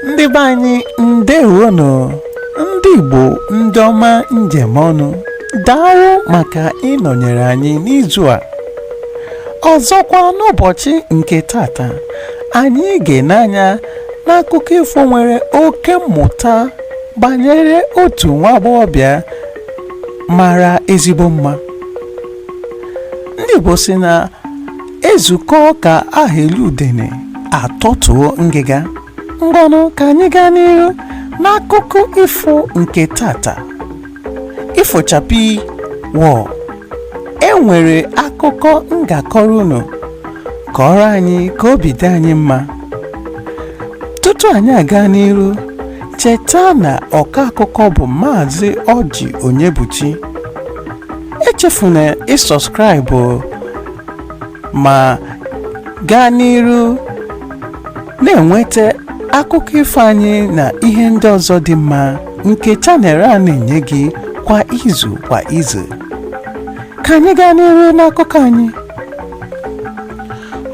ndị be anyị ndewonụ ndị Igbo ndị ọma njem ọnụ daalụ maka ịnọnyere anyị n'izu a ọzọkwa n'ụbọchị nke tata anyị ga-ene anya n'akụkọ ifo nwere oke mmụta banyere otu nwa agbọghọbịa mara ezigbo mma ndị Igbo sị na e zukọọ ka aha eli udene a tọtuo ngịga ngwanụ ka anyị gaa n'iru n'akụkọ ifo nke tata ifo chakpii wọọ e nwere akụkọ m ga-akọrọ unu kọọrọ anyị ka obi dị anyị mma tutu anyị agaa n'iru Cheta na ọka akụkọ bụ Maazị Ọjị Onyebuchi. Echefuna ịsubscribe ma gaa n'iru na-enweta akụkọ ifo anyị na ihe ndị ọzọ dị mma nke channel a na-enye gị kwa izu kwa izu. Ka anyị gaa n'iru n'akụkọ anyị.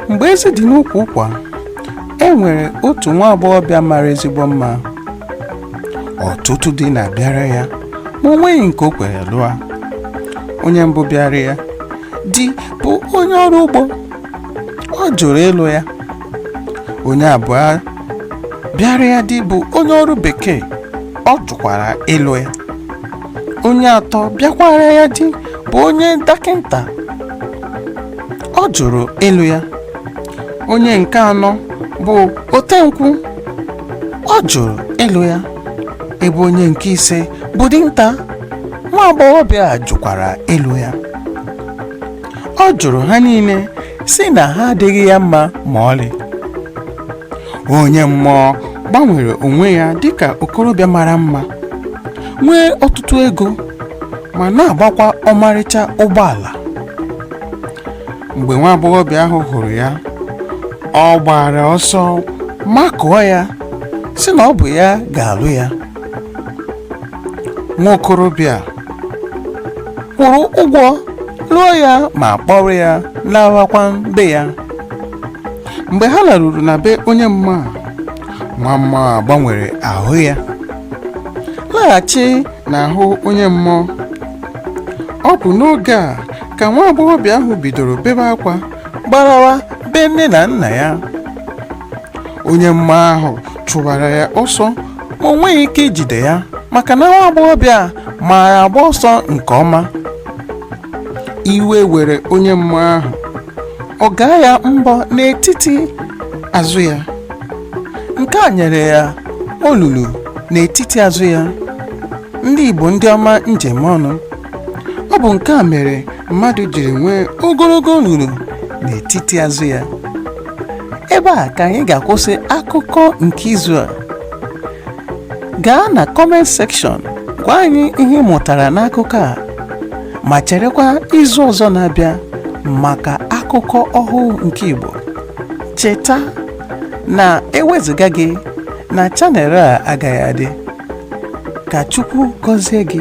Mgbe ezi dị n'ukwu ụkwa e nwere otu nwa agbọghọbịa mara ezigbo mma ọtụtụ di na-abịara ya ma o nweghị nke o kwere lụọ onye mbụ bịara ya di bụ onye ọrụ ugbo ọ jụrụ ịlụ ya onye abụọ bịara ya di bụ onye ọrụ bekee ọ jụkwara ịlụ ya onye atọ bịakwara ya di bụ onye dọkịta ọ jụrụ ịlụ ya onye nke anọ bụ otenkwụ ọ jụrụ ịlụ ya ebe onye nke ise bụ dinta nwa agbọghọbịa a jụkwara ịlụ ya ọ jụrụ ha niile sị na ha adịghị ya mma ma ọlị onye mmụọ gbanwere onwe ya dịka okorobịa mara mma nwee ọtụtụ ego ma na-agbakwa ọmarịcha ụgbọala mgbe nwa agbọghọbịa ahụ hụrụ ya ọ gbara ọsọ makụọ ya sị na ọ bụ ya ga-alụ ya nwa okorobịa kwụrụ ụgwọ lụọ ya ma kpọrọ ya lawakwa be ya mgbe ha laruru na be onye mmụọ nwa mmụọ gbanwere ahụ ya laghachi n'ahụ onye mmụọ ọ bụ n'oge a ka nwa agbọghọbịa ahụ bidoro bebe akwa gbarawa be nne na nna ya onye mmụọ ahụ chụbara ya ọsọ ma o nweghị ike ijide ya maka na nwa agbọghọbịa a maara agba ọsọ nke ọma iwe were onye mmụọ ahụ ọ gaa ya mbọ n'etiti azụ ya nke a nyere ya olulu n'etiti azụ ya ndị Igbo ndị ọma m ji eme ọnụ ọ bụ nke a mere mmadụ jiri nwee ogologo olulu n'etiti azụ ya ebe a ka anyị ga-akwụsị akụkọ nke izu a gaa na comment section gwa anyị ihe ị mụtara n'akụkọ a ma cherekwa izu ọzọ na-abịa maka akụkọ ọhụụ nke Igbo cheta na ewezuga gị na channel a agaghị adị ka Chukwu gọzie gị